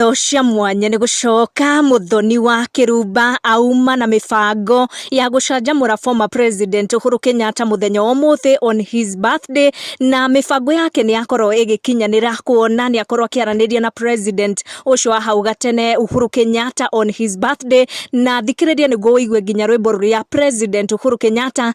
indo cia mwanya nĩ gũcoka mũthoni wa kĩrumba auma na mĩbango ya gũcanjamũra former president Uhuru Kenyatta mũthenya wa ũmũthĩ on his birthday na mĩbango yake nĩ yakorwo ĩgĩkinyanĩra kuona nĩ akorwo akĩaranĩria na president ũcio wa hau gatene Uhuru Kenyatta on his birthday na thikĩrĩria nĩguo ũigue nginya rwĩmbo rũrĩa president Uhuru Kenyatta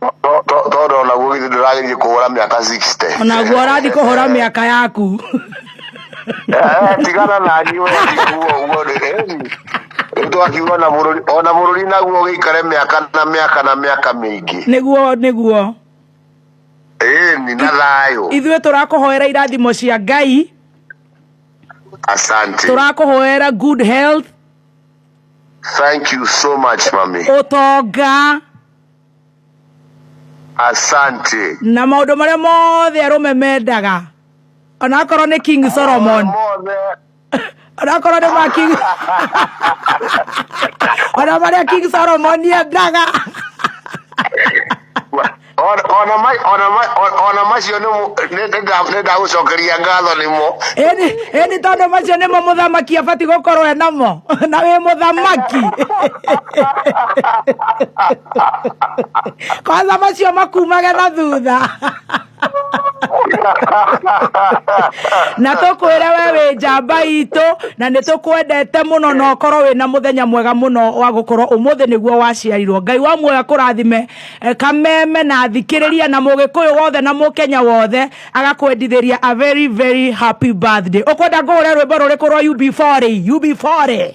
To- to- tondå onaguo githä ndå ragä kå hå ra mä aka onaguo ũrathiĩ kũhũra mĩaka yaku tigana nani we ndikuo guo rä rä twakiuga ona bå rå ri ona bå rå ri naguo gä ikare mä aka na mä aka na mä aka mä ingä nĩguo nĩguo ni na thayå ithuĩ tũrakũhoera irathimo cia ngai asante tũrakũhoera good health thank you so much mami ũtonga asante na maũndũ marĩa mothe arũme mendaga onakorwo nĩ king solomon mothe onakorwo nĩ ma king ona marĩa king solomon endaga Ona- ona ma- ona ma- ona- ona macio nĩ- nĩ- nĩ nda- nĩ ndagũcokeria ngatho nĩmo ĩni ĩni tondũ macio nĩmo mũthamaki abati gũkorwo enamo na wĩ mũthamaki kwanza macio makumage na thutha na tũkwĩre we wĩ njamba itũ na nĩ tũkwendete mũno na ũkorwo wĩ na mũthenya mwega mũno wa gũkorwo ũmũthĩ nĩguo waciarirwo ngai wa muoya kũrathime eh, kameme na athikĩrĩria na mũgĩkũyũ wothe na mũkenya wothe agakwendithĩria a very very happy birthday ũkwenda ngũhũre rwĩmbo rũrĩkũ rwa ub40 ub40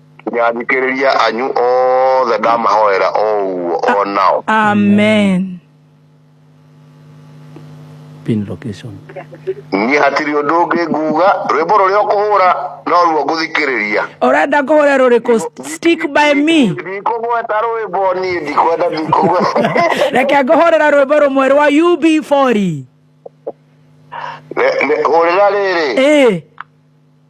nginya thikĩrĩria anyu othe ndamahoera o ũguo o nao amen pin location niĩ hatirĩ ũndũ ũngĩ nguga rwĩmbo rũrĩa ũkũhũra no ruo ngũthikĩrĩria ũrenda kũhũra rũrĩkũ stick by me ndikũgweta rwĩmbo niĩ ndikwenda ndikũgweta reke ngũhũrĩra rwĩmbo rũmwe rwa ub40 Ne- ne- hũrĩra rĩrĩ ĩĩ